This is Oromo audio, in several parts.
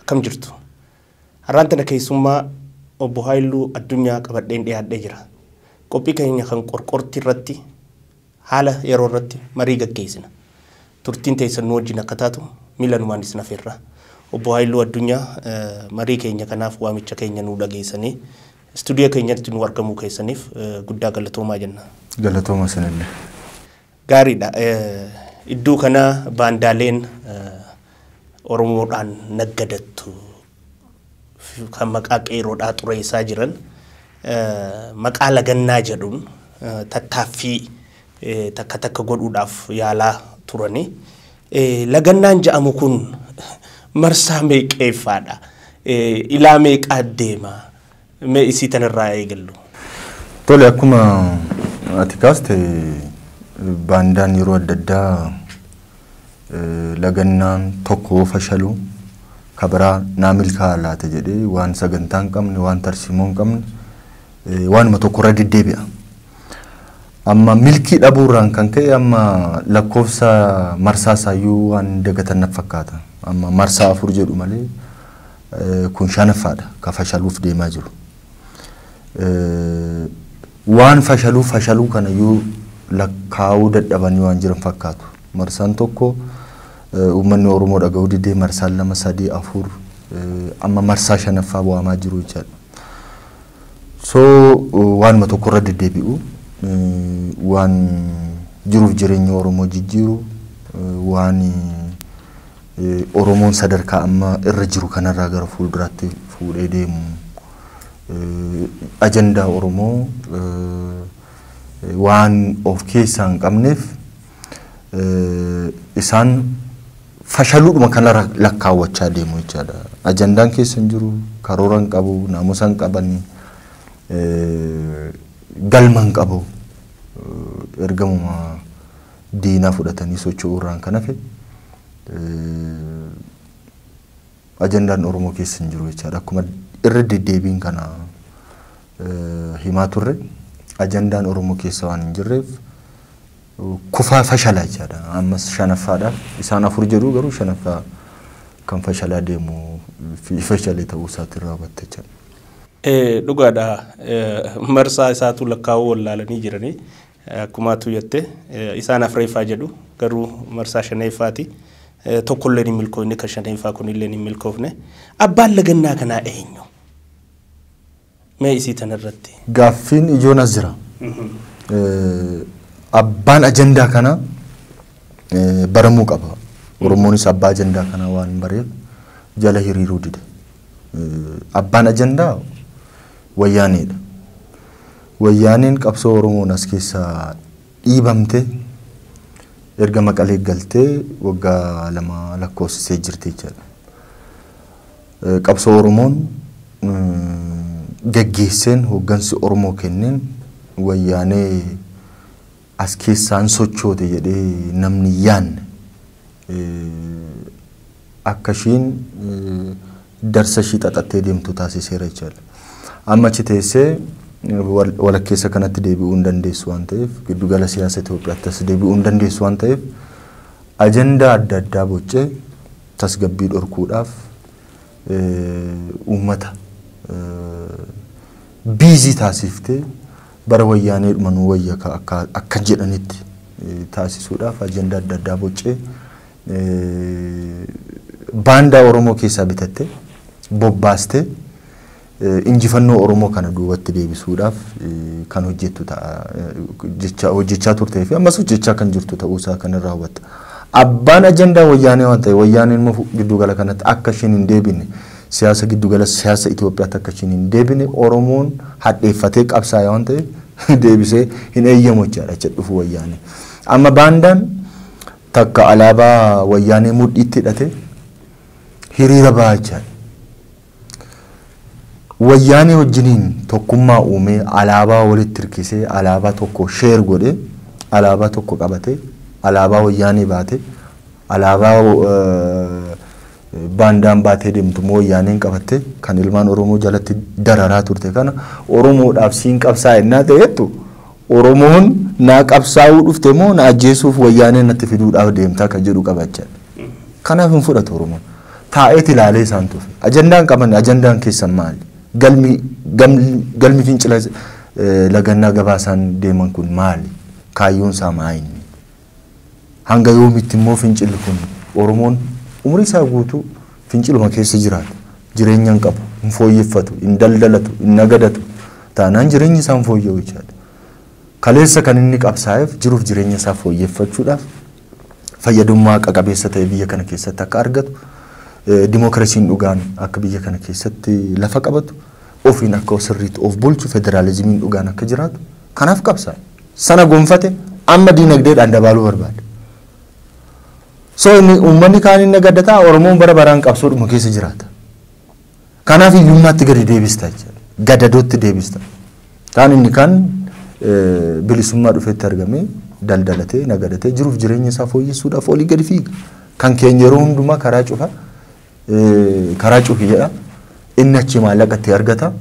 Akkam jirtu? Har'aan tana keessummaa Obbo Haayiluu Addunyaa qabadheen dhiyaadhee jira. Qophii keenya kan qorqortii irratti haala yeroo irratti marii gaggeessina. Turtiin teessan nu wajjin akka taatu miilanumaan isin afeerra. Obbo Haayiluu Addunyaa marii keenya kanaaf waamicha keenya nuu dhageessanii istuudiyoo keenyatti nuu argamuu keessaniif guddaa galatoomaa jenna. Galatooma isinillee. Gaariidha. Iddoo kana baandaaleen Oromoodhaan naggadattu kan maqaa qeeroodhaa xureessaa jiran maqaa lagannaa jedhuun tattaaffii takka takka godhuudhaaf yaalaa turani. Lagannaan ja'amu kun marsaa meeqeeffaadha? Ilaa meeqaa deema? Mee isii tan irraa haa eegallu. Tole akkuma ati kaaste baandaan yeroo adda addaa eh, lagannaan tokko yoo fashalu ka biraa naa milkaa'a laata jedhee waan sagantaa hin qabne waan tarsiimoo hin qabne eh, waanuma tokko irra deddeebi'a. Amma milkii dhabuurraan kan ka'e amma lakkoofsa marsaa isaayyuu waan dagatan natti fakkaata. Amma marsaa afur jedhu malee Kun shanaffaadha ka fashaluuf deemaa jiru. Waan fashaluu fashaluu kana iyyuu lakkaa'uu dadhabanii waan jiran fakkaatu. Marsaan tokko uummanni Oromoo dhaga'uu didee marsaan lama sadii afur amma marsaa shanaffaa waamaa jiru jechaadha. So waanuma tokkorra deddeebi'u waan jiruuf jireenya Oromoo jijjiiru waan Oromoon sadarkaa amma irra jiru kanarraa gara fuulduraatti fuudhee deemu ajandaa Oromoo waan of keessaa hin qabneef isaan fashaluudhuma kanarra lakkaawwachaa deemu jechaadha. Ajandaan keessa hin jiru, karoora hin qabu, naamusa hin qabani, galma hin qabu. Ergamuma diinaa fudhatanii socho'uu irraan kan hafe ajandaan Oromoo keessa hin jiru jechaadha. Akkuma irra deddeebiin kana himaa turre ajandaan Oromoo keessa waan hin jirreef kufaa fashalaa jechaadha. Ammas shanaffaadhaaf isaan afur jedhu garuu shanaffaa kan fashalaa deemu fi fashale ta'uu isaatiin raawwatte jechaadha. Dhugaadha marsaa isaatu lakkaa'uu wallaalanii jiranii Akkuma atuu jette isaan afreeffaa jedhu garuu marsaa shaneeffaati. Tokkolleen hin milkooyne kan shaneeffaa kunilleen hin milkoofne. Abbaan lagannaa kanaa eenyu? Mee isii tanarratti. Gaaffiin ijoon as jira. Abbaan ajandaa kanaa baramuu qaba. Oromoonis abbaa ajandaa kanaa waan hin bareef jala hiriiruu dide. Abbaan ajandaa wayyaaneedha. Wayyaaneen qabsoo Oromoon as keessaa dhiibamte erga Maqalee galtee waggaa lama lakkoofsisee jirti jechaadha. Qabsoo Oromoon gaggeesseen hooggansi Oromoo kenneen Wayyaanee as keessaa hin sochoote jedhee namni hin yaanne akka ishiin darsa ishii xaxattee deemtu taasiseera jechaadha. Amma achi teessee walakkeessa kanatti deebi'uu hin dandeessu waan ta'eef giddugala siyaasa Itoophiyaatti as deebi'uu hin dandeessu waan ta'eef ajandaa adda addaa boccee tasgabbii dhorkuudhaaf uummata biizii taasiftee Bara Wayyaaneedhuma nuu wayya ka akka akka jedhanitti taasisuudhaaf ajandaa adda addaa boccee baandaa Oromoo keessaa bitattee bobbaastee injifannoo Oromoo kana duubatti deebisuudhaaf kan hojjettu ta'a jechaa hojjechaa turtee fi ammas hojjechaa kan jirtu ta'uu isaa kan irraa hubatta. Abbaan ajandaa wayyaanee waan ta'e wayyaaneen immoo gidduu gala kanatti akka isheen hin deebine Siyaasa giddu gala siyaasa Itoophiyaatti akka ishiin hin deebine Oromoon hadheeffatee qabsaa'e waan ta'eef deebisee hin eeyyamu jechaadha jecha dhufu wayyaanee. Amma baandaan takka alaabaa wayyaanee mudhiitti hidhatee hiriira bahaa jechaadha. Wayyaanee wajjiniin tokkummaa uumee alaabaa walitti hirkisee alaabaa tokko sheer godhee alaabaa tokko qabatee alaabaa wayyaanee baatee alaabaa Baandaan baatee deemtu immoo wayyaaneen qabattee kan ilmaan Oromoo jalatti dararaa turte kana Oromoodhaaf siin qabsaa'a ennaa ta'ettu Oromoon naa qabsaa'uu dhufte moo na ajjeesuuf wayyaanee natti fiduudhaaf deemta kan jedhu qaba jechaadha. Kanaaf hin fudhatu Oromoon. Taa'eet ilaalee isaan tufe. Ajandaan qaban ajandaan keessan maali? Galmi galmi fincila lagannaa gabaasaan deeman kun maali? Kaayyoon isaa maa inni? Hanga yoomitti immoo fincilli kun? Oromoon umrii isaa guutuu finciluma keessa jiraata. Jireenya hin qabu, hin fooyyeffatu, hin daldalatu, hin nagadatu taanaan jireenyi isaa hin fooyya'u jechaadha. Kaleessa kan inni qabsaa'eef jiruuf jireenya isaa fooyyeffachuudhaaf fayyadummaa haqa qabeessa ta'e biyya kana keessatti akka argatu, dimookiraasiin dhugaan akka biyya kana keessatti lafa qabatu, ofiin akka sirriitti of bulchu, federaalizimiin dhugaan akka jiraatu kanaaf qabsaa'e. sana gonfate amma diinagdeedhaan dabaaluu barbaada. So inni uummanni kaan inni gadda ta'a Oromoon bara baraan qabsoodhuma keessa jiraata. Kanaaf hiyyummaatti gadi deebista jechuudha. Gadadootti deebista. Kaan inni kaan eh, bilisummaa dhufeetti argamee daldalatee nagadatee jiruuf jireenya isaa fooyyessuudhaaf olii gadi fiiga. Kan keenya yeroo hundumaa karaa cufa karaa cufi jedha. Inni achii maallaqa itti argata.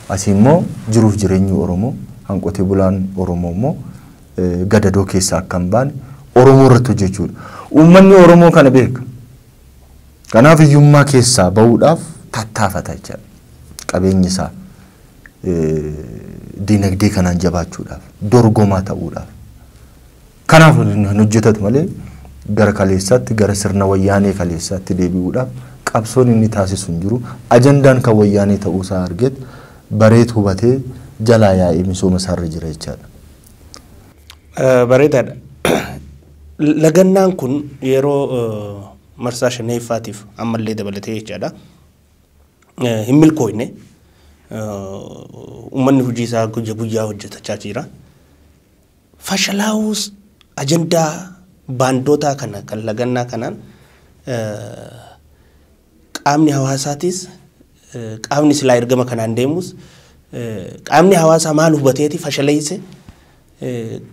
Asii immoo jiruuf jireenyi Oromoo kan qotee bulaan Oromoo immoo gadadoo keessa akka hin baane Oromoo irratti hojjechuudha. Uummanni Oromoo kana beeka. Kanaaf hiyyummaa keessaa bahuudhaaf tattaafata jechaadha. Qabeenyi isaa dinagdee kanaan jabaachuudhaaf dorgomaa ta'uudhaaf. Kanaaf hin hojjetatu malee gara kaleessaatti, gara sirna wayyaanee kaleessaatti deebi'uudhaaf qabsoon inni taasisu hin jiru. Ajandaan kan wayyaanee ta'uu isaa argeet, bareet hubatee jalaa yaa'ee misooma isaa irra jira jechaa dha. Bareedaa dha. Lagannaan kun yeroo marsaa shaneeffaatiif amma illee dabalatee jechaa dha hin milkooyne. Uummanni hojii isaa guyya guyyaa hojjetachaa jira. Fashalaa'uus ajandaa baandootaa kana kan lagannaa kanaan qaamni hawaasaatiis qaamni silaa ergama kanaan deemus qaamni hawaasaa maal hubateeti fashaleeyse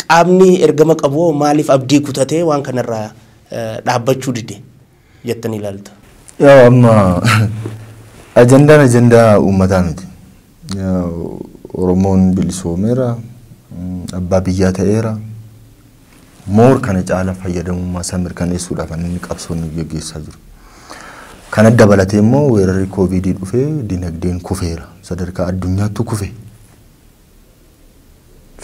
qaamni ergama qabu maaliif abdii kutatee waan kanarraa dhaabbachuu dide. jettanii ilaaltu? Yaa'u amma ajandaan ajandaa uummataa miti. Oromoon bilisoomeera, abbaa biyyaa ta'eera. Moor kana caala fayyadamummaa isaa mirkaneessuudhaaf inni qabsoo inni gaggeessaa jiru. Kana dabalatee immoo weerarri kooviidii dhufee dinagdeen kufeera. Sadarkaa addunyaattu kufe.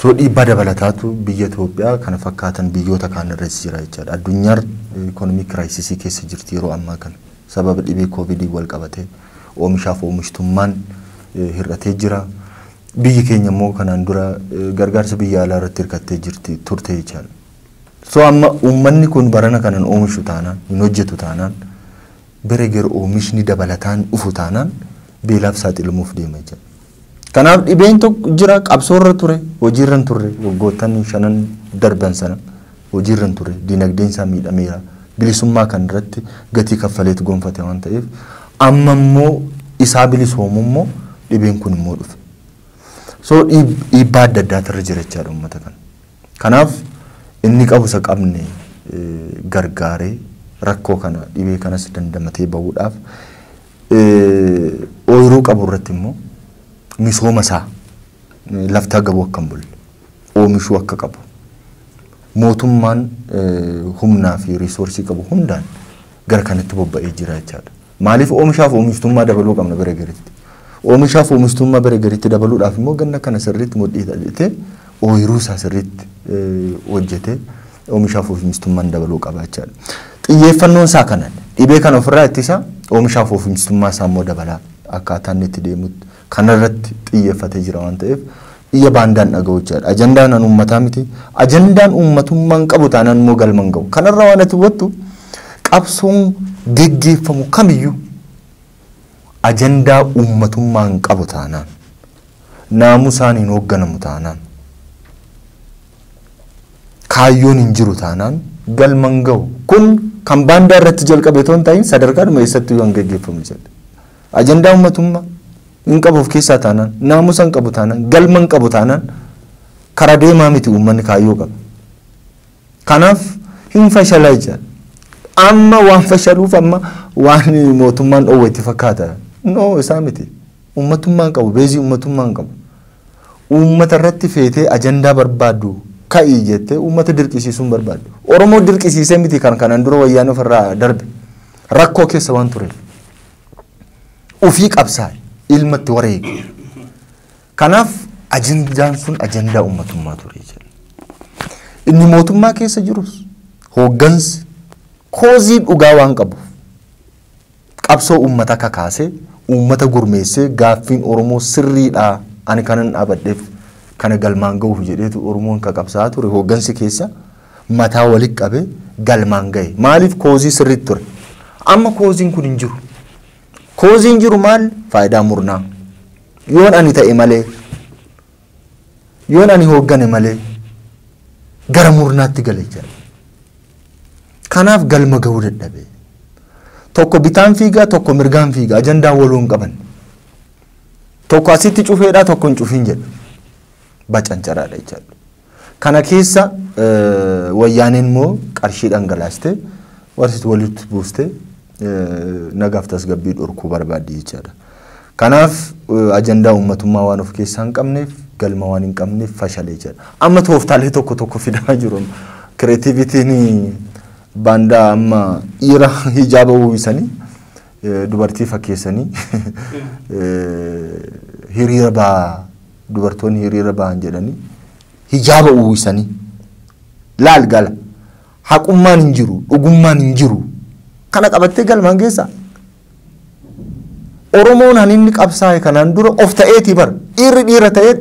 So dhiibbaa dabalataatu biyya Itoophiyaa kana fakkaatan biyyoota kaan irras jira jechaadha. Addunyaar economic crisis keessa jirti yeroo ammaa kana. Sababa dhibee Covidiin wal qabatee oomishaaf oomishtummaan hir'atee jira. Biyyi keenya immoo kanaan dura gargaarsa biyya alaa irratti hirkattee jirti turte jechaadha. So amma uummanni kun barana kanan oomishu taanaan, hin hojjetu taanaan bira gera oomishni dabalataan dhufu taanaan beelaaf saaxilamuuf deema jechuudha. Kanaaf dhibeen tokko jira qabsoorra ture hojiirra hin turre waggoottan shanan darban sana hojiirra hin turre diinagdeen isaa miidhameera bilisummaa kan irratti gatii kaffaleetu gonfate waan ta'eef amma immoo isaa bilisoomu immoo dhibeen kun immoo dhufe. So dhiib- dhiibbaa adda addaatu irra jira jechaadha uummata kana. Kanaaf inni qabu isa qabne gargaaree rakkoo kana dhibee kanas dandamatee bahuudhaaf ooyiruu qabu irratti immoo misooma isaa lafti agabuu akka hin bulle oomishuu akka qabu mootummaan humnaa fi riisoorsii qabu hundaan gara kanatti bobba'ee jira jechaadha. Maaliif oomishaaf oomishtummaa dabaluu qabna bara gariitti? Oomishaaf oomishtummaa bara gariitti dabaluudhaaf immoo ganna kana sirriitti mudhii hidhatee ooyiruu isaa sirriitti hojjetee oomishaaf oomishtummaan dabaluu qaba jechaadha. Xiyyeeffannoon isaa kana dhibee kana ofirraa ittisa oomishaaf oomishtummaa isaa immoo dabalaa akkaataa inni itti deemutti kanarratti xiyyeffatee jira waan ta'eef iyya baandaan dhaga'uu jechaadha. Ajandaan an uummataa miti. Ajandaan uummatummaa hin qabu taanaan immoo galma hin ga'u. Kanarraa waan ati hubattu qabsoon geggeeffamu kamiyyuu ajandaa uummatummaa hin qabu taanaan naamusaan hin hoogganamu taanaan kaayyoon hin jiru taanaan galma hin ga'u. Kun kan baandaa irratti jalqabe otoo hin ta'iin sadarkaadhuma eessatti kan geggeeffamu jedhe. Ajandaa ummatummaa hin qabu of keessaa taanaan, naamusa hin qabu taanaan, galma hin qabu taanaan karaa deemaa miti uummanni kaayyoo qaba. Kanaaf hin fashala jecha. Amma waan fashaluuf amma waan mootummaan dhoowwe itti fakkaata. No isaa miti. Uummatummaa hin qabu, beezii uummatummaa hin qabu. Uummata irratti feetee ajandaa barbaaddu ka'ii jettee uummata dirqisiisuu hin barbaaddu. Oromoo dirqisiisee miti kan kanaan dura wayyaan ofirraa darbe. Rakkoo keessa waan tureef. ofii qabsaa'e ilma itti wareege. Kanaaf ajandaan sun ajandaa uummatummaa ture jedha. Inni mootummaa keessa jirus hooggansi koozii dhugaa waan qabuuf qabsoo uummata kakaasee uummata gurmeessee gaaffiin Oromoo sirriidha ani kanan dhaabadheef kana galmaan ga'uuf jedheetu Oromoon ka qabsaa'aa ture hooggansi keessa. mataa walitti qabee galmaan gahe. Maaliif koozii sirriitti ture. Amma kooziin kun hin jiru. Kooziin jiru maal? Faayidaa murnaa. Yoon ani ta'e malee, yoon ani hooggane malee gara murnaatti gale jira. Kanaaf galma gahuu dadhabe. Tokko bitaan fiigaa, tokko mirgaan fiigaa. Ajandaa waloo hin qaban. Tokko asitti cufeedhaa, tokko hin cufiin jedha. Bacancaraa dha jechaadha. Kana keessa wayyaaneen immoo qarshii dhangalaastee warri walitti buustee nagaaf tasgabbii dhorkuu barbaaddi jechaadha. Kanaaf ajandaa uummatummaa waan of keessaa hin qabneef galma waan hin qabneef fashalee jira. Amma tooftaalee tokko tokko fidamaa jiru. Kireetiivitiin baandaa amma dhiira hijaaba uwwisanii dubartii fakkeessanii hiriira ba'aa dubartoonni hiriira bahan jedhanii hijaaba uwwisanii laal gala haqummaan hin jiru dhugummaan hin jiru kana qabattee galmaan geessaa Oromoon han inni qabsaa'e kanaan dura of ta'eetii bar dhiirri dhiira ta'ee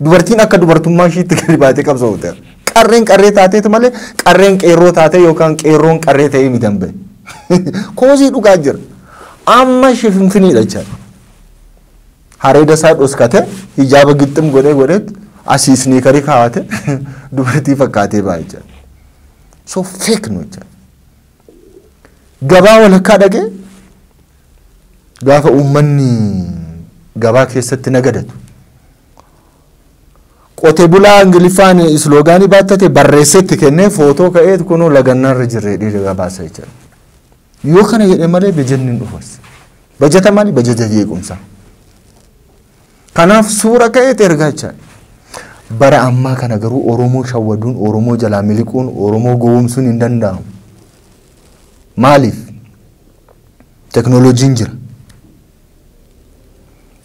dubartiin akka dubartummaa ishiitti gadi baatee qabsoofte qarreen qarree taateetu malee qarreen qeerroo taatee yookaan qeerroon qarree ta'ee miti hin bahe koosii dhugaa jira amma ishee finfiniidha jechaadha. Hareeda isaa dhoskate hijaaba gixxim godhee godheet asii isniikarii kaawate dubartii fakkaatee baay'ee jira. So fake nu jira. Gabaa walakkaa dhaqee gaafa uummanni gabaa keessatti nagadatu. Qote bulaa Ingiliffaan isloogaanii baattate barreessetti kennee footoo ka'eet kunuu lagannaarra jirree dhiira gabaasa jechuudha. Yoo kana jedhe malee bajanni hin dhufas. Bajata maali? Bajaja jeequmsaa. Kanaaf suura ka'eet ergaa jechaadha. Bara ammaa kana garuu Oromoo shawwaduun, Oromoo jalaa miliquun, Oromoo gowwomsuun hin danda'amu. Maaliif? Teknooloojiin jira.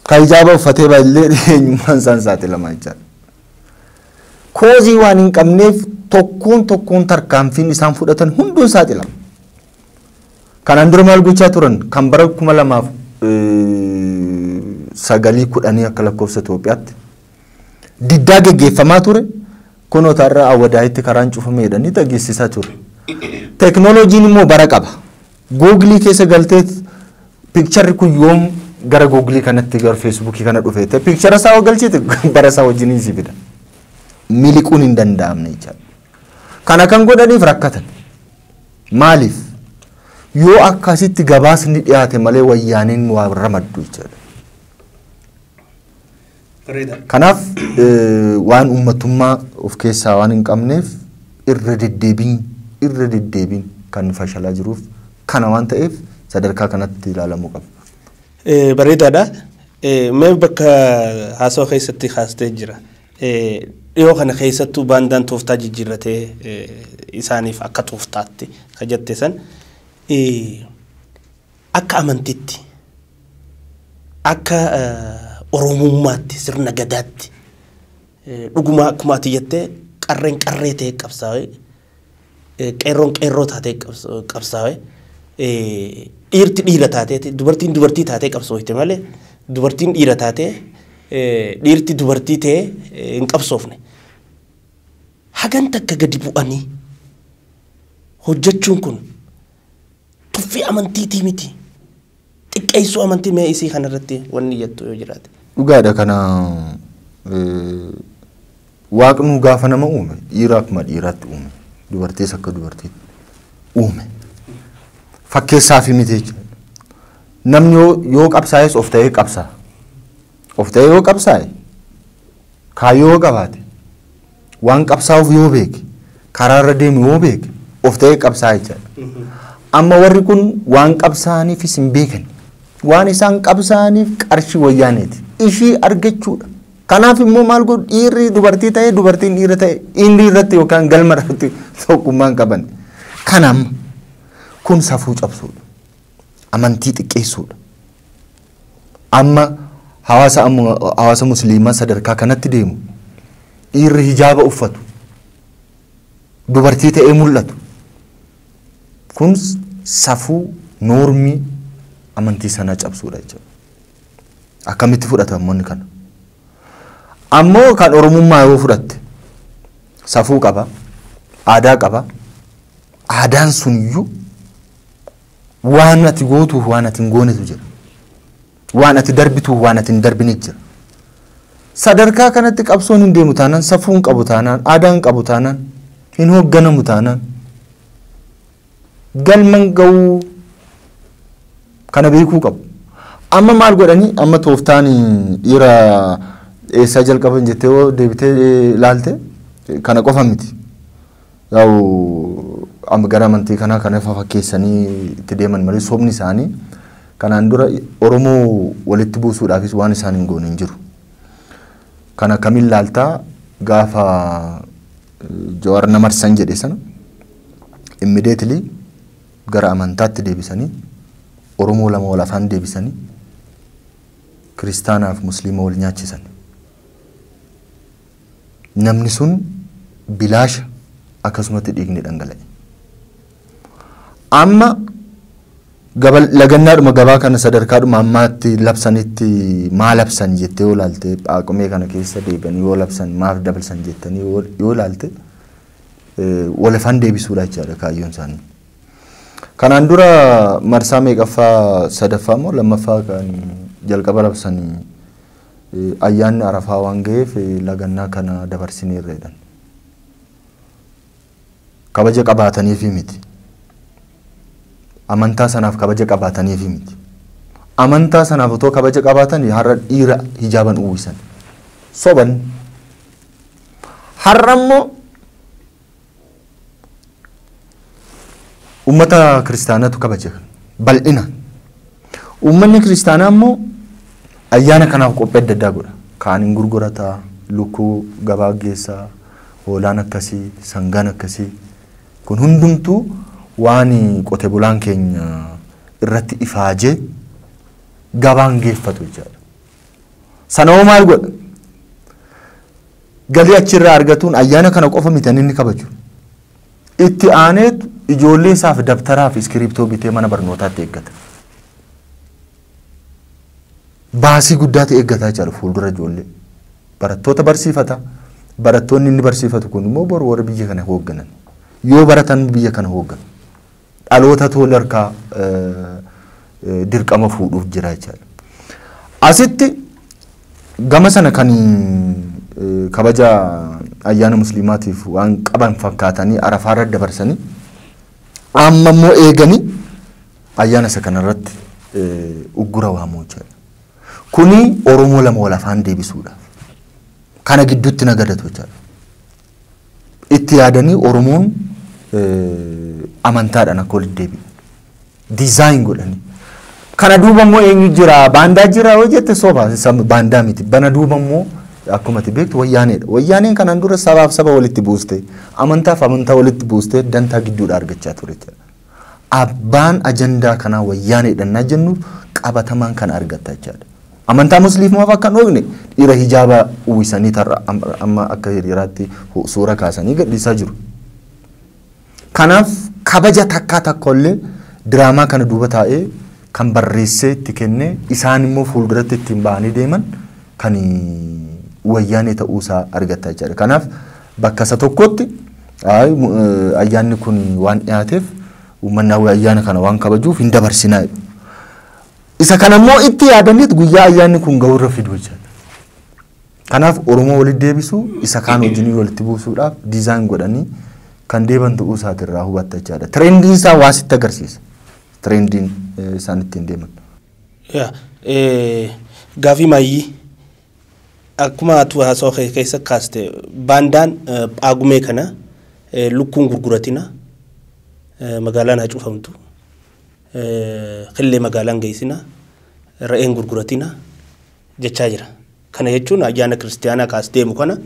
Kan hijaaba uffatee baay'illee eenyummaan isaan saaxilamaa jechaadha. Koozii waan hin qabneef tokkoon tokkoon tarkaanfiin isaan fudhatan hunduun saaxilama. Kanaan dura maal gochaa turan kan bara kuma lamaaf sagalii kudhanii akka lakkoofsa Itoophiyaatti diddaa geggeeffamaa ture kunoo taarra awwadaayitti karaan cufamee jedhanii dhageessisaa ture. Teknooloojiin immoo bara qaba. Google keessa galteet picture kun yoom gara Google kanatti gara Facebook kana dhufe ta'e picture isaa yoo galchite bara isaa wajjin si fida. Miliquun hin danda'amne jechaadha. Kana kan godhaniif rakkatan. Maaliif? Yoo akkasitti gabaasni dhiyaate malee wayyaaneen waa ramaddu jechaadha. Bareeda. Kanaaf eh, waan uummatummaa of keessaa waan hin qabneef irra deddeebiin irra deddeebiin kan fashalaa jiruuf kana waan ta'eef sadarkaa kanatti ilaalamuu qaba. Eh, Bareedaadha. Eh, Mee bakka haasawaa keessatti kaastee jira. Eh, Dhiyoo kana keessattuu baandaan tooftaa jijjiirratee eh, isaaniif akka tooftaatti ka jette san. eh, Akka amantiitti, akka Oromummaatti, sirna Gadaatti dhugumaa akkuma ati jette qarreen qarree ta'ee qabsaa'ee, qeerroon qeerroo taatee qabsaa'ee, dhiirti dhiira taateeti, dubartiin dubartii taatee qabsooyte malee dubartiin dhiira taatee dhiirti dubartii ta'ee hin qabsoofne. Hagan takka gadi bu'anii hojjechuun kun Tuffii amantiitii miti. Xiqqeessuu amantii mee isii kana irratti wanni jettu yoo jiraate. Dhugaadha kana waaqnuu gaafa nama uume dhiira akkuma dhiiraatti uume dubartiis akka dubartiitti uume fakkeessaa fi miti jechuudha. Namni yoo qabsaa'es of ta'ee qabsaa. Of ta'ee yoo qabsaa'e Kaayyoo yoo qabaate, waan qabsaa'uuf yoo beeke, karaa irra deemu yoo beeke of ta'ee qabsaa'a jechaadha. Amma warri kun waan qabsaa'aniifis hin beekan. Waan isaan qabsaa'aniif qarshii wayyaaneeti. Ishii argachuudha. Kanaaf immoo maal godhu dhiirri dubartii ta'e dubartiin dhiira ta'e inni irratti yookaan galma irratti tokkummaan qaban. Kana amma kun safuu cabsuudha. amantii xiqqeessuudha. Amma hawaasa amma- hawaasa musliimaa sadarkaa kanatti deemu dhiirri hijaaba uffatu dubartii ta'ee mul'atu kun safuu noormii amantii sanaa cabsuudha jechuudha. Akkamitti fudhatamoonni kana? Ammoo kan oromummaa yoo fudhatte safuu qaba, aadaa qaba, aadaan suniyyuu Waan ati gootuuf waan ati hin goonetu jira. Waan ati darbituuf waan ati hin darbine jira. Sadarkaa kanatti qabsoon hin deemu taanaan, safuu hin qabu taanaan, aadaa hin qabu taanaan, hin hoogganamu taanaan. Galma hin ga'uu kana beekuu qabu. Amma maal godhanii amma tooftaan dhiira eessaa jalqaban jettee yoo deebitee ilaalte kana qofa miti. Yaa'u amma gara amantii kanaa kan ifa fakkeessanii itti deeman malee sobni isaanii kanaan dura Oromoo walitti buusuudhaafis waan isaan hin goone hin jiru. Kana kamiin laaltaa gaafa Jawaar na marsan jedhe sana immediately gara amantaatti deebisanii Oromoo lama wal afaan deebisanii kiristaanaaf musliima wal nyaachisan. Namni sun bilaasha akkasumatti dhiigni dhangala'e. Amma gaba- lagannaadhuma gabaa kana sadarkaadhuma ammaatti labsanitti maa labsan jettee yoo laalte phaaqumee kana keessa deebi'anii yoo labsan maaf dabalsan jettanii yoo yoo laalte eh, wal afaan deebisuudha jechaadha kaayyoon isaanii. Kanaan dura marsaa meeqaffaa sadaffaa moo lammaffaa kan jalqaba labsanii Ayyaanni Arafaa waan gaheef lagannaa kana dabarsineerra jedhan. Kabaja qabaataniifii miti. Amantaa sanaaf kabaja qabaataniifii miti. Amantaa sanaaf otoo kabaja qabaatanii har'a dhiira hijaaban uwwisan. Soban. Har'a immoo Uummata kiristaanaatu kabaja kana bal'inaan. Uummanni kiristaanaa immoo ayyaana kanaaf qophii adda addaa godha. Kaan hin gurgurata, lukkuu gabaa geessa, hoolaan akkasii, sangaan akkasii. Kun hundumtuu waan qote bulaan keenya irratti ifaajee gabaan geeffatu jechaadha. Sana hoo maal godha? Galii achi irraa argatuun ayyaana kana qofa miti inni kabaju. Itti aaneet ijoollee isaaf dabtaraa fi iskiriiptoo bitee mana barnootaatti eeggata. Baasii guddaatu eeggata jechaadha fuuldura ijoollee. Barattoota barsiifata. Barattoonni inni barsiifatu kun immoo boru warra biyya kana hoogganan. Yoo baratan biyya kana hoogganu. dhalootatu wal harkaa dirqama fuudhuuf jira jechaadha. Asitti gama sana kan kabaja ayyaana musliimaatiif waan qaban fakkaatanii arafaarra dabarsanii amma immoo eeganii ayyaana isa kanarratti uggura waamuu jechaadha. Kuni Oromoo lama wal afaan deebisuudha. Kana gidduutti nagadatu jechaadha. itti yaadanii Oromoon amantaadhaan akka walitti deebi'u. Dizaayin godhanii. Kana duuba immoo eenyu jira? Baandaa jira yoo jette soba. Baandaa miti. Bana duuba immoo akkuma ati beektu wayyaaneedha. Wayyaaneen kanaan dura sabaaf saba walitti buuste, amantaaf amantaa walitti buuste dantaa gidduudhaa argachaa ture jechuudha. Abbaan ajandaa kanaa wayyaaneedha innaa jennu qabatamaan kana argatta jechaadha. Amantaa musliimaaf akka hin oogne dhiira hijaaba uwwisanii tarra amma akka hiriiraatti suura kaasanii gadhiisaa jiru. Kanaaf kabaja takkaa takkollee diraamaa kana duuba taa'ee kan barreessee itti kennee isaan immoo fuulduratti ittiin ba'anii deeman kan wayyaanee ta'uusaa argatta jechaadha. Kanaaf Bakka isa tokkotti ayyaanni kun waan dhiyaateef uummanni Hawwii ayyaana kana waan kabajuuf hin dabarsinaa jedhu. Isa kana immoo itti yaadaniit guyyaa ayyaanni kun ga'urra fidu jechaadha. Kanaaf Oromoo walitti deebisuu isa kaan wajjin walitti buusuudhaaf diizaayin godhanii kan deeban ta'uu isaati irraa hubatta jechaadha. Tirendiin isaa waa sitti agarsiisa. Tirendiin isaan ittiin deeman. Yaa, eh, gaafii maayyii Akkuma atu haasawa kee keessa kaaste baandaan Phaagumee kana lukkuu hin gurguratina, magaalaan haa cufamtu, killee magaalaa hin geessina, re'ee hin gurguratina jechaa jira. Kana jechuun ayyaana kiristiyaanaa kaas deemu kana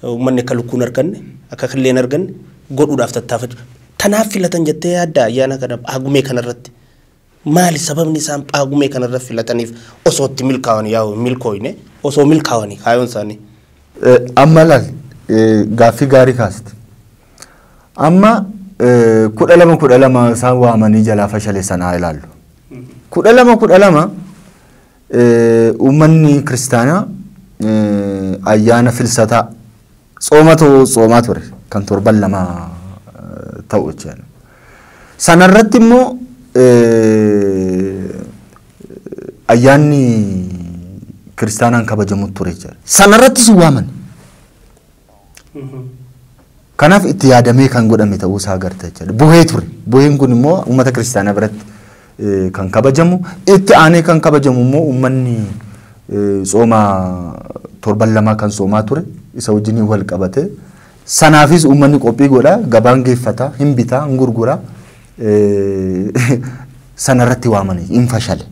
uummanni akka lukkuu hin arganne, akka killee hin arganne godhuudhaaf tattaafatu. Tanaaf filatan jettee yaadda ayyaana kana Phaagumee kanarratti? Maali sababni isaan Phaagumee kana irra filataniif osoo itti milkaawanii yaa'u hin milkooyne osoo milkaawanii kaayoon isaanii? Amma ilaali gaaffii gaarii kaaste. Amma kudha lama kudha lama isaan waamanii jalaa fashaleessan haa ilaallu. Kudha lama kudha lama uummanni kiristaanaa ayyaana filsataa Tsoomatu tsoomaa ture kan torban lamaa ta'u jechuudha. Sanarratti immoo ayyaanni kiristaanaan kabajamu ture jechuudha. Sanarratti si waaman. Kanaaf itti yaadamee kan godhame ta'uu isaa agarta jechuudha. Buhee ture. Buheen kun immoo uummata kiristaanaa biratti kan kabajamu. Itti aanee kan kabajamu immoo uummanni tsooma torban lamaa kan soomaa ture isa wajjin wal qabate. Sanaafis uummanni qophii godha, gabaan geeffata, hin bita, hin gurgura. Sanarratti waamanii hin fashale.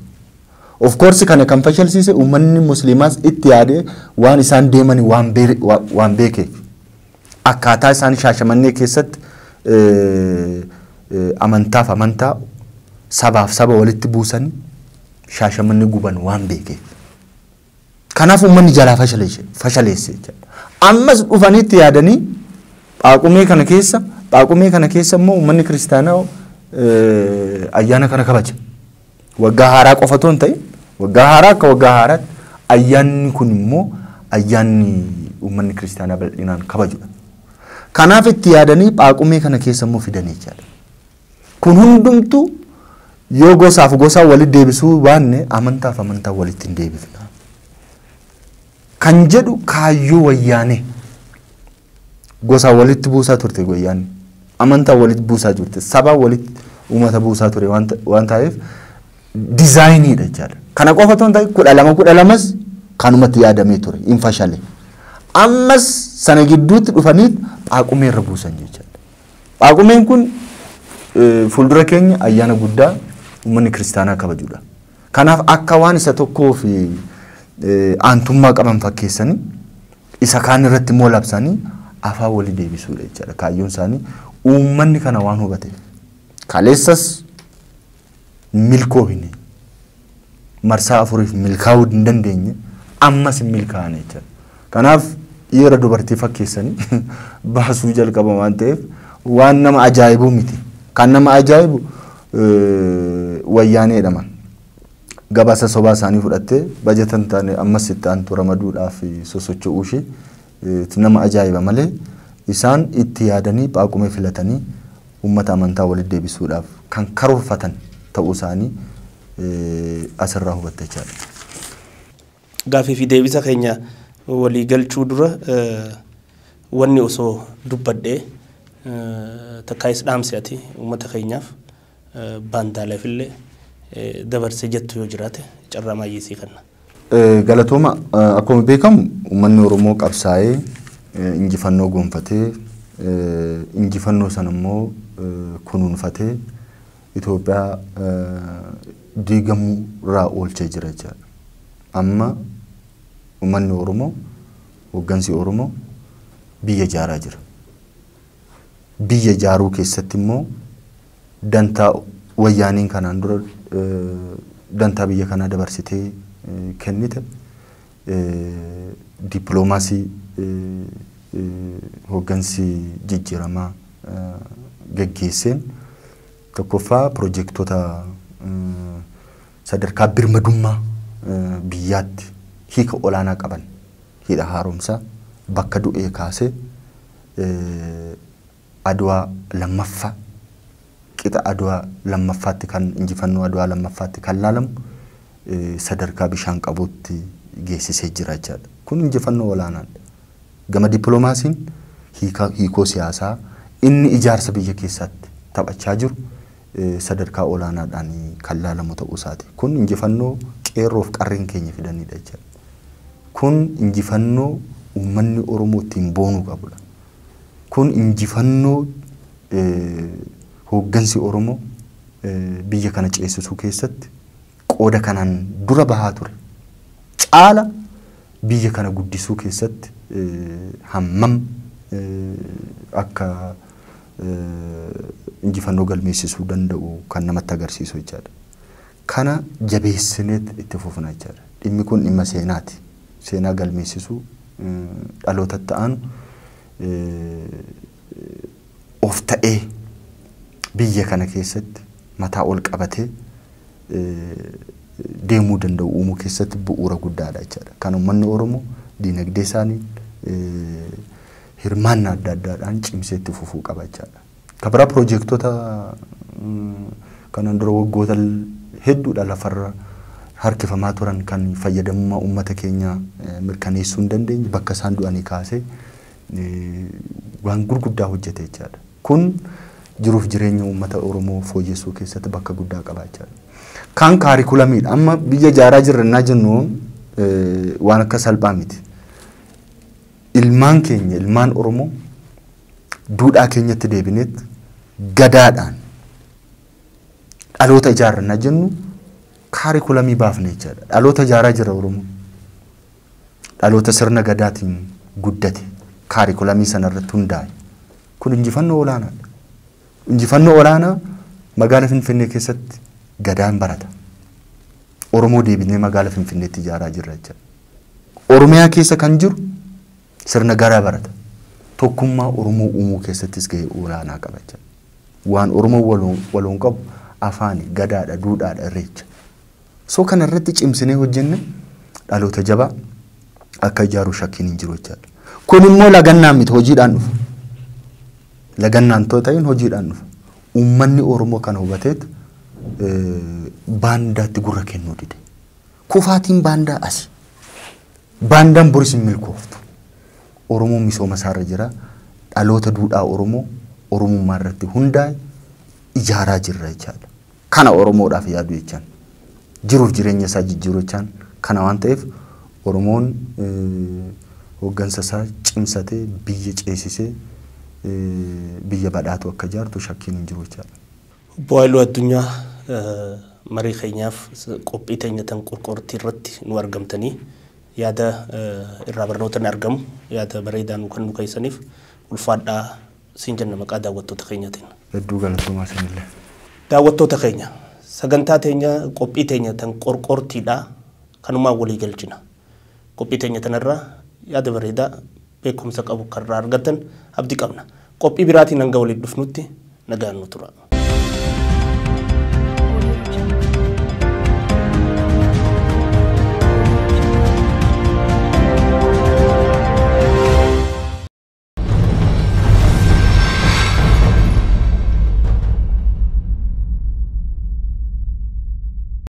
Of course kana kan fashalsiise uummanni musliimaas itti yaadee waan isaan deemanii waan beekeef. akkaataa isaan Shaashamannee keessatti amantaaf amantaa, sabaaf saba walitti buusanii Shaashamannee guban waan beekeef. Kanaaf uummanni jalaa fashaleesse jechaadha. Ammas dhufanii itti yaadanii Phaaqumee kana keessa Phaaqumee kana keessa immoo uummanni kiristaanaa ayyaana kana kabaja. Waggaa haaraa qofa otoo hin ta'in waggaa haaraa akka waggaa haaraatti ayyaanni kun immoo ayyaanni uummanni kiristaanaa bal'inaan kabajudha. Kanaaf itti yaadanii phaaqumee kana keessa immoo fidan jechaadha. Kun hundumtuu yoo gosaaf gosaa walitti deebisuu baanne amantaaf amantaa walitti hin deebifna. Kan jedhu kaayyoo wayyaanee. Gosa walitti buusaa turte wayyaanni. Amantaa walitti buusaa turte. Sabaa walitti uummata buusaa ture waan ta'eef dizaayiniidha jechaadha. Kana qofa otoo hin ta'in kudha lama kudha lamas kanumatti yaadamee ture hin fashale. Ammas sana gidduutti dhufanii Phaaqumee irra buusan jechaadha. Phaaqumeen kun fuuldura keenya ayyaana guddaa uummanni kiristaanaa kabajudha. Kanaaf akka waan isa tokkoof aantummaa qaban fakkeessanii isa kaan irratti immoo labsanii afaan walii deebisuudha jechaadha. Kaayyoon isaanii uummanni kana waan hubateef kaleessas milkoohine marsaa afuriif milkaa'uu hin dandeenye ammas hin milkaa'ane jechaadha. Kanaaf dhiira dubartii fakkeessanii baasuu jalqaban waan ta'eef waan nama ajaa'ibu miti. Kan nama ajaa'ibu wayyaaneedha man. Gabaasa sobaa isaanii fudhattee bajata hin taane ammas itti aantu ramaduudhaaf sosocho'uu ishee nama ajaa'iba malee isaan itti yaadanii phaaqumee filatanii uummata amantaa walitti deebisuudhaaf kan karoorfatan ta'uu isaanii asirraa hubatta jechaadha. Gaaffii fi deebisa keenya walii galchuu dura wanni osoo dubbadhee takkaayis dhaamsi ati uummata keenyaaf baandaaleefillee dabarse jettu yoo jiraate carraa maayyii sii kenna. Galatooma akkuma beekamu uummanni Oromoo qabsaa'ee injifannoo goonfatee injifannoo sana immoo kunuunfatee Itoophiyaa diigamuu irraa oolchee jira jechaadha. Amma uummanni Oromoo, hooggansi Oromoo biyya ijaaraa jira. Biyya ijaaruu keessatti immoo dantaa wayyaaniin kanaan dura dantaa biyya kanaa dabarsitee kennite Dippiloomaasii hooggansi jijjiiramaa gaggeesseen tokkoffaa piroojektota sadarkaa birmadummaa biyyaatti hiika olaanaa qaban hidha haaromsaa bakka du'ee kaasee Adwaa lammaffa qixa Adwa lammaffaatti kan injifannoo Adwaa lammaffaatti kan laalamu sadarkaa bishaan qabuutti geessisee jira jechaadha. Kun injifannoo olaanaadha. Gama dippilomaasiin hiika hiikoo siyaasaa inni ijaarsa biyya keessaatti taphachaa jiru sadarkaa olaanaadhaan kan laalamu ta'uu isaati. Kun injifannoo qeerroof qarreen keenya fidaniidha jechaadha. Kun injifannoo uummanni Oromoo ittiin boonuu qabudha. Kun injifannoo hooggansi Oromoo biyya kana ceessisuu keessatti qooda kanaan dura bahaa ture caala biyya kana guddisuu keessatti hammam akka injifannoo galmeessisuu danda'u kan namatti agarsiisu jechaadha. Kana jabeessineet itti fufna jechaadha. Dhimmi kun dhimma seenaati. Seenaa galmeessisuu, dhaloota itti aanu of ta'ee biyya kana keessatti mataa ol qabatee deemuu danda'u uumuu keessatti bu'uura guddaadha jechaadha. Kan uummanni Oromoo diinagdee isaaniin hirmaannaa adda addaadhaan cimsee itti fufuu qaba jechaadha. Kan biraa piroojeektota kanaan dura waggoota hedduudha lafarra harkifamaa turan kan fayyadamummaa uummata keenyaa mirkaneessuu hin dandeenye bakka isaan du'anii kaasee waan gurguddaa hojjete jechaadha. Kun jiruuf jireenya uummata Oromoo fooyyessuu keessatti bakka guddaa qaba jechaadha. Kaan kaarikulamiidha. Amma biyya ijaaraa jirra innaa jennu waan akka salphaa miti. Ilmaan keenya ilmaan Oromoo duudhaa keenyatti deebineet gadaadhaan dhaloota ijaarrannaa jennu kaarikulamii baafne jechaadha. Dhaloota ijaaraa jira Oromoo. Dhaloota sirna gadaatiin guddate kaarikulamii sana irratti hundaa'e. Kun injifannoo olaanaadha. Injifannoo olaanaa magaala Finfinnee keessatti gadaan barata. Oromoo deebinee magaala Finfinneetti ijaaraa jirra jechaadha. Oromiyaa keessa kan jiru Sirna garaa barata. Tokkummaa Oromoo uumuu keessattis gahee olaanaa qaba jedha. Waan Oromoon waloon waloon qabu afaani, gadaadha, duudhaadha, irreecha. So kana irratti cimsinee hojjenne dhaloota jabaa akka ijaaru shakkiin hin jiru jechaadha. Kun immoo lagannaan miti hojiidhaan dhufa. Lagannaan too ta'in hojiidhaan dhufa. Uummanni Oromoo kana hubateet eh, baandaatti gurra kennuu dide. Kufaatiin baandaa asi. Baandaan boris hin milkooftu. Oromoon misooma isaarra jira. Dhaloota duudhaa Oromoo Oromummaa irratti hundaa'e ijaaraa jirra jechaadha. Kana Oromoodhaaf yaadu jechaan. Jiruuf jireenya isaa jijjiiru jechaan. Kana waan ta'eef Oromoon hooggansa isaa cimsatee biyya ceesisee biyya badhaatu akka ijaartu shakkiin hin jiru jechaadha. Obbo Haayiluu Addunyaa marii keenyaaf qophii teenya tan qorqoortii irratti nuu argamtanii yaada irraa barnootani argamu yaada bareedaa nuu kennuu keessaniif ulfaadhaa siin jenna maqaa daawwattoota keenyatiin. Hedduu galatoomaa isinillee. Daawwattoota keenya, sagantaa teenya qophii teenya tan qorqoortiidhaa kanumaan walii galchina. Qophii teenya tanarraa yaada bareedaa beekkumsa qabu kan irraa argattan abdi qabna. Qophii biraatiin hanga waliif dhufnutti nagaan nu tura.